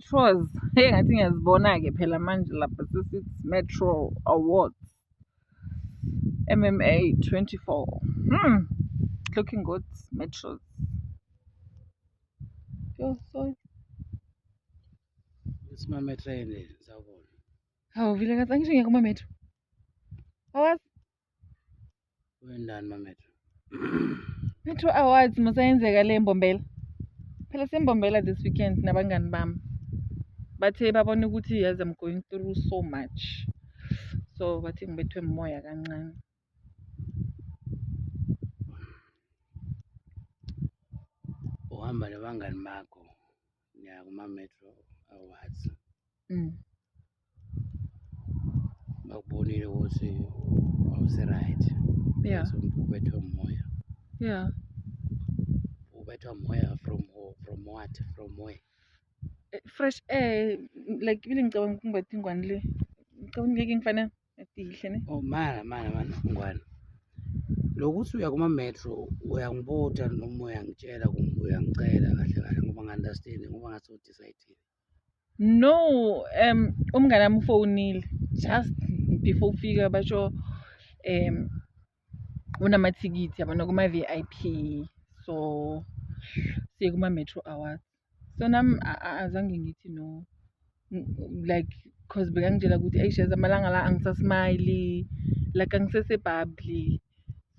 Metros, hey ngathi ngiyazibona-ke phela manje lapha sesithi Metro Awards MMA 24. Hmm. Looking good, Metros. Yo, sorry. Simame train sawubona. Hawu vile ngathi angisho ngiya kuma metro. Awazi Wendani mametro. Metro Awards musayenzeka le mbombela. Phela sembombela this weekend nabangani bami. Bathe babona ukuthi yes I'm going through so much. So bathi ngibethwe umoya kancane. Uhamba nabangani bakho. ya kuma-metro awards mm. bakubonile ukuthi awusi-right yeah. so ubethwe moya yeah ubethwa moya from from what from where eh, fresh air like ibile ngicabanga ukungibatha ingwane le ngicabanga ngeke ngifanele Etihle ne. Oh mara mara mara ngwana. Lokuthi uya kuma metro uyangibutha noma uyangitshela kumbe uyangicela kahle kahle ngoba ngi-understand ngoba ngathi udecide. No, um umngane wami ufonile just before ufika basho um unamathikithi yabona kuma-vip so siye kuma-metro awards so nam azange ngithi no like cause bekangitshela ukuthi ayi sheza amalanga la angisasmayili like angisesebhabli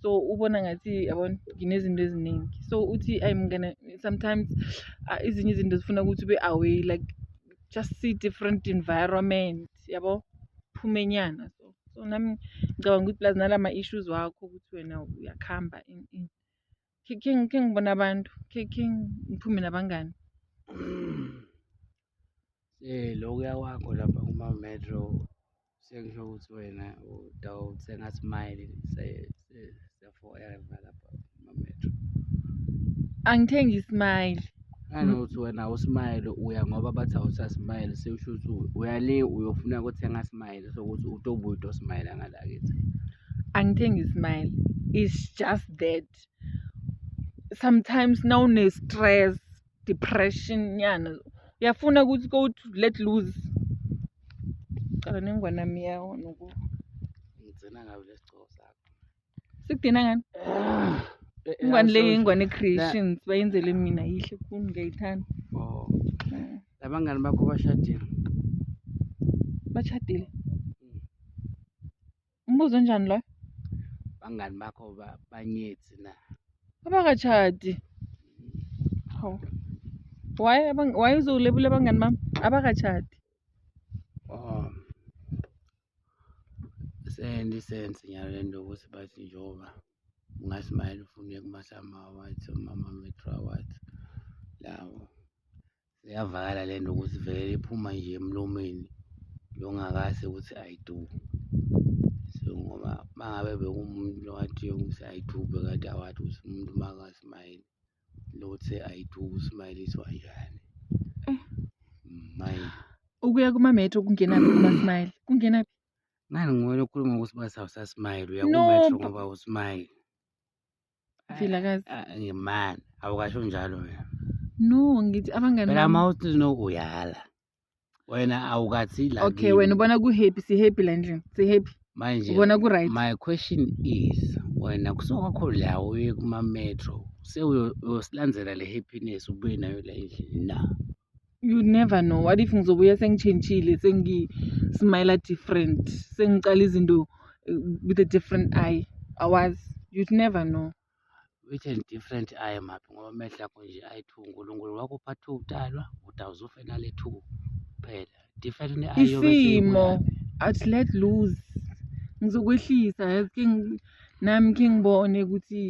so ubona ngathi yabona nginezinto eziningi so uthi ayi mngane sometimes uh, izinye izinto zifuna ukuthi ube away like just see different environment yabo phumenyana so so nami ngicabanga ukuthi plus nala ma-issues wakho ukuthi wena uyakuhamba in in khe khe ngi- khe ngibone abantu khe khe ngiphume nabangani Eh lokuya kwakho lapha kuma metro sekusho ukuthi wena utawuthenga smile se- angithengi ismile nanokuthi wena usmile uya ngoba bathi awusasmile sekusho ukuthi uya le uyofuna ukuthenga smile sokuthi utobuye utosmile ngalakithi angithengi ismile it's just that sometimes nawune-stress depression nyana uyafuna ukuthi go to let loose cala nengwana miyawo noku ngitsena ngabe lesigcobo sakho sikudina ngani ah, eh, eh, ingwane le ingwane creations bayenzele mina yihle khulu ngiyayithanda oh. mm. labangani bakho bashadile bashadile Umbuzo onjani loyo? Abangani bakho ba- banyethi na? Abakatshadi. Hawu. Why abang why uzolebula abangani bami? Abakatshadi. Oh. Sendi sense nyalo lento ukuthi bathi njengoba ungasmayela ufune kumasama awards omama metro awards lawo Iyavakala le nto ukuthi vele iphuma nje emlomeni longakase ukuthi ayiduku so ngoba uma ngabe bekumuntu lowathi ukuthi ayidube kade awathi ukuthi umuntu makasmayile lothe ayidube usmayiliswa njani mm. mayi ukuya kumametro kungenaphi kumasmayile kungenaphi ngani nguwe lokhuluma ukuthi basawusasmayile uya kumetro ngoba usmayile Vilakazi. Ah, ah, Ngimani, awukasho njalo wena. No, ngithi abangani Phela bami. uma uthi no uyala. Wena awukathi la. Okay, kimi. wena ubona ku happy, si happy la endlini. Si happy. Manje Ubona ku right. my question is wena kusuka kho la uye kuma metro sewuyosilandzela le happiness ubuye nayo la endlini na? you never know what if ngizobuya sengitshentshile sengismile different sengiqala izinto eh, with a different eye awazi you'd never know with a different eye maphi ngoba amehlo akho nje ayi-two unkulunkulu wakupha two udalwa udawuzufe nale two kuphela different ne-eye isimo athi let lose ngizokwehlisa yazi ke nami khe ngibone ukuthi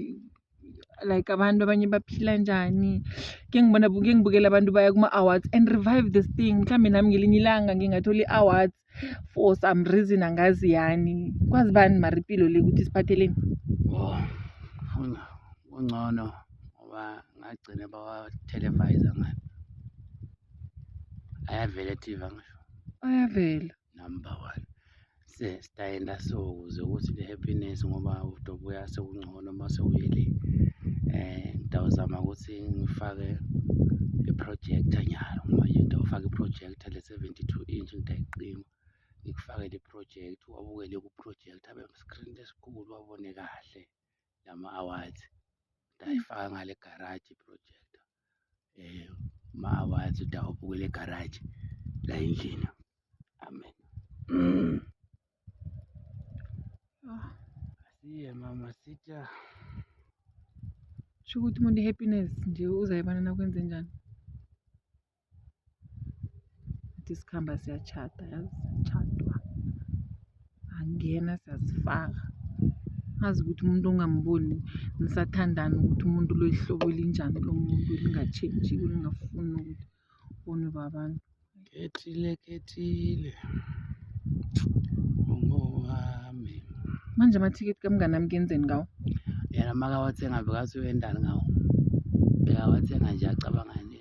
like abantu abanye baphila njani ke ngibona ke ngibukela abantu baya kuma-awards and revive this thing mhlawumbe nami ngelinye ilanga ngingathola i-awards for some reason angazi yani kwazi bani mara impilo le ukuthi siphatheleni oh, ungcono ngoba ngagcina bawa-televisa ngani ayavela i-tv ngisho ayavela number one sitayenda so ukuze ukuthi le happiness ngoba udobuya sekungcono uma sewuyele eh ngidawuzama ukuthi ngifake i-projector nyalo manje ngidawufaka i-projector le 72 inch ngidayiqima ngikufake le project wabukele ku-project abe screen lesikhulu wabone kahle lama awards ngidayifaka ngale garage i-projector eh ma wathi udawubukela egaraji la endlini amen mm. ah. asiye mama sitya sho ukuthi umuntu i-happiness nje uzayibona nakwenze njani ukuthi sikhamba siyachata yazi chadwa angena siyazifaka azi ukuthi umuntu ongamboni nisathandana ukuthi umuntu loyihlobo elinjani lo muntu elingatshentshiko lingafuni ukuthi ubonwe babantu kethile kethile ungowami manje amathikithi kamngane ami kenzeni ngawo yena makawathenga bekasuwendani ngawo bekawathenga nje acabangani